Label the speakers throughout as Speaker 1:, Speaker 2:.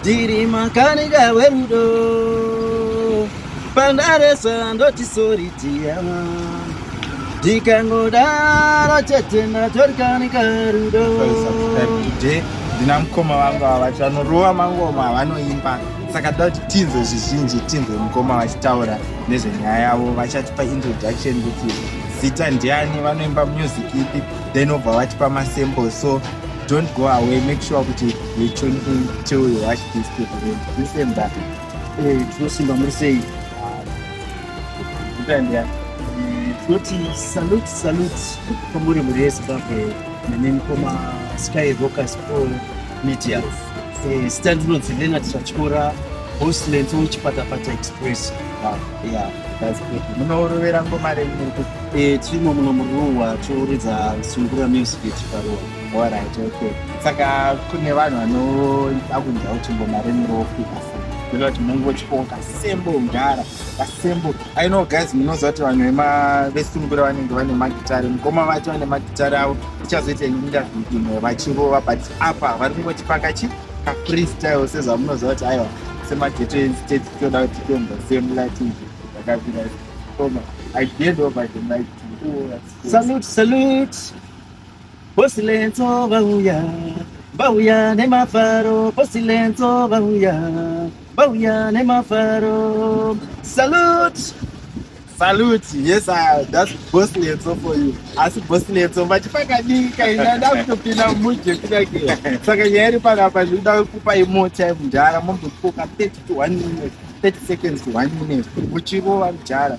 Speaker 1: Ndiri makanika werudo pandaresa ndoti sori tiyama ndikangodaro chete ndatorikanika rudo
Speaker 2: ndina mukoma vangu ava vacho vanorova mangoma avanoimba saka toda kuti tinzwe zvizhinji tinzwe mukoma vachitaura nezvenyaya yavo vachatipa introduction kuti zita ndiani vanoimba music ipi then obva vatipa masample so Don't go away, make sure that you tune in till you watch this video. Listen back. Hey, Tusimba
Speaker 1: Mursei.
Speaker 2: Utandya. Kuti
Speaker 1: salute, salute. Kamburi muri yese babe. Nene koma Sky Rockers Pro Media. Eh, stand roads Leonard Chachikora. Host Lento Chipatapata Express. Ah, yeah,
Speaker 2: that's good. Munorovera ngoma renyu. Eh, timo
Speaker 1: munomuruwa toridza sungura music yechiparuwa. Alright,
Speaker 2: okay. Saka kune vanhu vanoda kunzwa kuti ngoma remi rofika sei? Kuda kuti mungochikoka kasembo kudhara kasembo. I know guys munoziva kuti vanhu vema vesungura vanenge vane magitare. Mukoma vacho vane magitare avo ichazoita interview imwe vachirova but apa vari kungotipanga chi ka freestyle sezvamunoziva kuti aiwa semageto enstate tinoda kuti tiende same light izvi zvakapira. Koma I hand over the mic to you. Salute, salute.
Speaker 1: Posilenzo vauya, vauya nemafaro. Posilenzo vauya, vauya nemafaro. Salute! Salute,
Speaker 2: yes, uh, that's Bosilenzo for you. Asi Bosilenzo mati pakadii kaina ndakutopinda muje kuda ke. Saka nyaya iri panapa zvinoda kupa imo time mudhara mombokoka 30 to 1 minute, 30 seconds to 1 minute muchirova mudhara.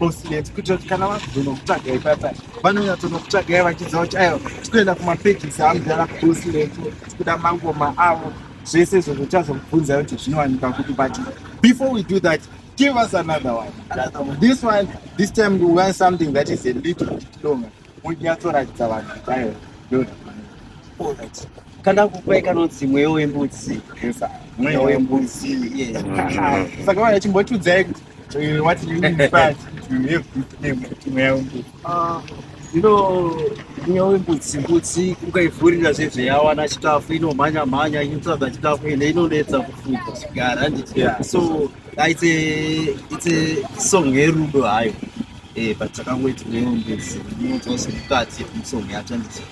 Speaker 2: oslet kuitira kuti kana vazonokutsvagai papa vanonyatsonokutsvagai vachidza kuti aiwa tikuenda kumapegisi amudhara kuoslet tikuda mangoma avo zvese izvo zvochazokubvunza kuti zvinowanika kuti but before we do that give us another one this one this time we want something that is a little bit longer munyatsoratidza vanhu kuti aiwa ndoaolright
Speaker 1: kana kupai kanonzi mweyo wembudzi mweyo
Speaker 2: wembudzi saka vana chimbotiudzai kuti Uh, what you mean fat? You have good name.
Speaker 1: Tumeambu. Uh, you know, nyau imbudzi mbudzi ukaivhurira zvezveyawana chikafu inomhanya mhanya inotsvaga chikafu ende inonetsa kufuga chigara handiti yeah. so uh, it's a it's a song yerudo hayo eh but takangoiti nyau imbudzi inonzwa zvemukati yemusong yacho handiti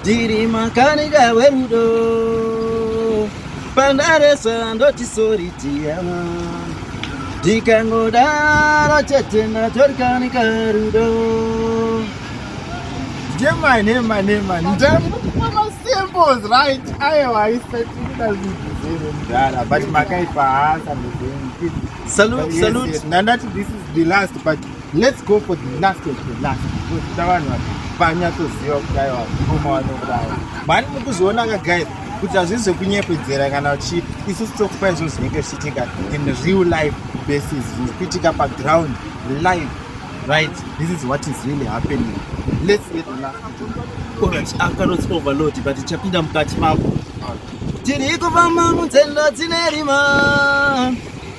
Speaker 1: Ndiri makanika werudo pandaresa ndoti sori tiyama ndikangodaro chete ndatorikanika rudo
Speaker 2: Jema nema nema ndamukuma symbols right ayo aisatikuda zvinhu mdara but makaipa hasa mdara salute salute
Speaker 1: nandati this is
Speaker 2: the last but Let's go for the last of the last kuda vanhu vanyatsoziva kudai vakoma vanokudai mani mukuzvionaka guys kuti hazvii zvekunyepedzera kana uchii isu sitokupai zvinhu zvinenge zvichiitika in real life basis zvinhu kuitika paground live right this is what is really happening let's get the last alright i've
Speaker 1: got not overload but ichapinda mukati mako tiri kufamba munzendo dzine rima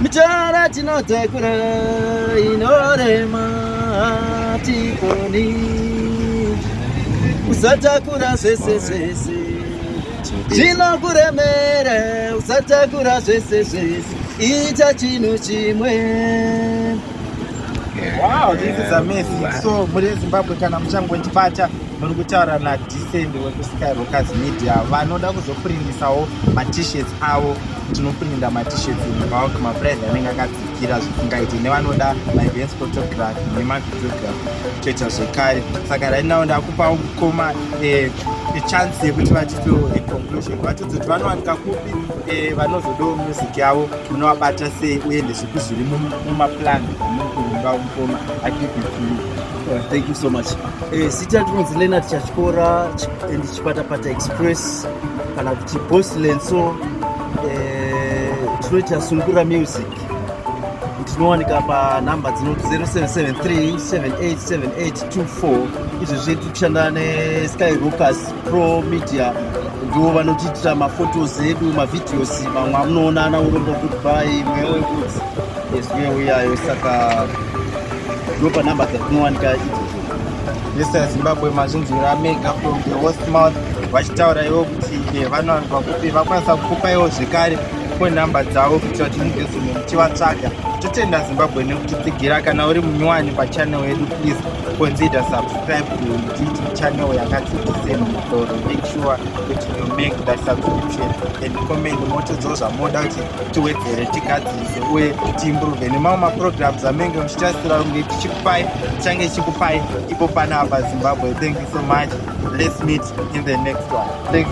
Speaker 1: Mitara tinotsekura inorema tikoni usatakura zvese zvese chinokuremera usatakura zvese zvese ita chinhu chimwe
Speaker 2: Wow, this is amazing. Wow. So, muri Zimbabwe kana muchangotibata muri kutaura na Descend weku Skyrockers Media vanoda kuzokurindisawo ma t-shirts avo tinoprinda matishirts mubulk maprize anenge akadzikira zvisingaiti nevanoda maevents photography nemavideography toita zvekare saka right now ndakupa mukoma eh, chance yekuti vatipewo econclusion vatidzi kuti vanowanika kupi eh, vanozodawo music yavo munovabata sei uye ndezvipi zviri mumaplan amukuumba mukoma akipi eh, thank
Speaker 1: you so much zita tinonzi lenat chachikora Chipatapata Express kana kuti Boss Lenso eh, tinoita Sungura Music tinowanika panhamba dzino 0773787824 izvi zvedu tikushanda nesky rocas pro media ndivo vanotiitira mafotos edu mavideos mamwe amunoona ana urombo goodby mweya wekudzi ezwiyo uyayo saka ndopanhamba dzatinowanika idzo Mr.
Speaker 2: Zimbabwe mazvinzwira mega from the host mouth vachitaura ivo kuti eh, vanowanikwa kupi vakwanisa kukupa ivo zvekare ko nhamba dzavo kuitira kuti mugezome muchivatsvaga totenda zimbabwe nekutitsigira kana uri munyowani pachanel yedu please consider subscribe to channel yakati tiseni mutoro make sure kuti you make that subscription and comment motodzowo zvamoda kuti tiwedzere tigadzise uye tiimprove nemamwe maprograms amenge muchitasira kunge tichikupai tichange chikupai ipo panapa zimbabwe thank you so much let's meet in the next one thank